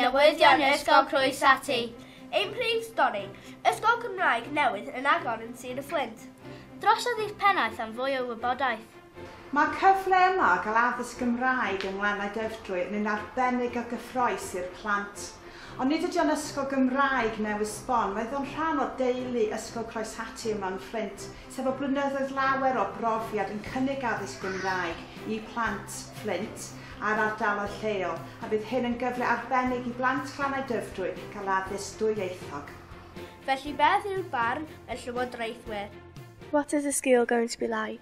newyddion Ysgol Croes Ati. Ein prif stori, Ysgol Cymraeg newydd yn agor yn Sir y Fflint. Drosodd i'ch pennaeth am fwy o wybodaeth. Mae'r cyfle yma o gael addysg Gymraeg yng Ngwlannau Dyfrdwy yn un arbennig a gyffrous i'r plant. Ond nid ydi o'n ysgol Gymraeg newydd sbon, roedd o'n rhan o deulu Ysgol Croeshatty yma yn Fflint, sef efo blynyddoedd lawer o brofiad yn cynnig addysg Gymraeg i plant Fflint a'r ardaloedd lleol, a bydd hyn yn gyfle arbennig i blant Glannau Dyfrdwy gael addysg dwyieithog. Felly beth yw'r barn y Llywodraethwyr? What is the school going to be like?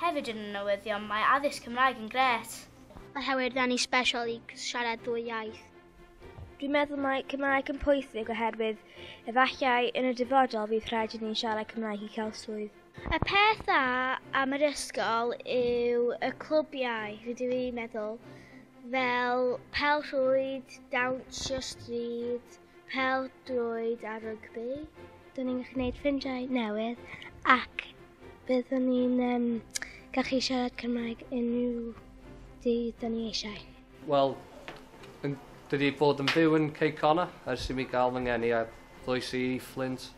Hefyd yn y newyddion mae addysg Cymraeg yn grêt. Mae Howard yn ei special i siarad ddwy iaith. Dwi'n meddwl mae Cymraeg yn pwysig oherwydd efallai yn y dyfodol fydd rhaid i ni siarad Cymraeg i cael swydd. Y peth dda am yr ysgol yw y clwbiau, rydw i'n meddwl, fel pel-rhwyd, dawnsio stryd, Pel drwyd a rygbi. Dyn ni'n gwneud ffrindiau newydd ac byddwn ni'n um, gallu siarad Cymraeg unrhyw dydd dyn ni eisiau. Wel, Dwi wedi bod yn byw yn Cei Cona ers i mi gael fy ngeni a ddoes i Flint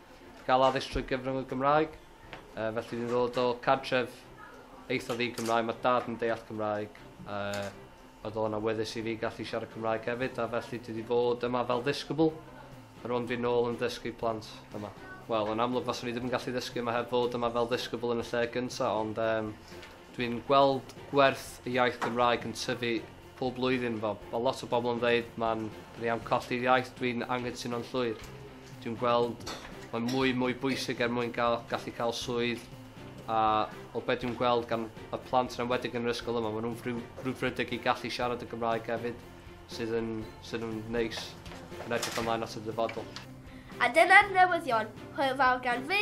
gael addysg trwy gyfrwng y Gymraeg. Uh, felly dwi'n ddod o cartref eitha ddi Cymraeg, mae dad yn deall Cymraeg. Uh, Oedd o'n awyddus i fi gallu siarad Cymraeg hefyd a felly dwi 'di bod yma fel ddisgybl. Rŵan dwi nôl yn dysgu plant yma. Wel, yn amlwg faswn i ddim yn gallu ddysgu yma heb fod yma fel ddisgybl yn y lle gynta' ond yym dwi'n gweld gwerth y iaith Gymraeg yn tyfu pob blwyddyn. Fel ma' lot o bobl yn ddeud ma'n 'da ni am colli'r iaith, dwi'n anghytuno'n llwyr. Dwi'n gweld mae'n mwy mwy bwysig er mwyn gael, gallu cael swydd a o beth dwi'n gweld gan y plant yn enwedig yn yr ysgol yma, maen nhw'n frwdfrydig i gallu siarad y Gymraeg hefyd sydd yn, sydd yn neis yn edrych ymlaen at y dyfodol. A dyna'r newyddion, hwyl fawr gan fi,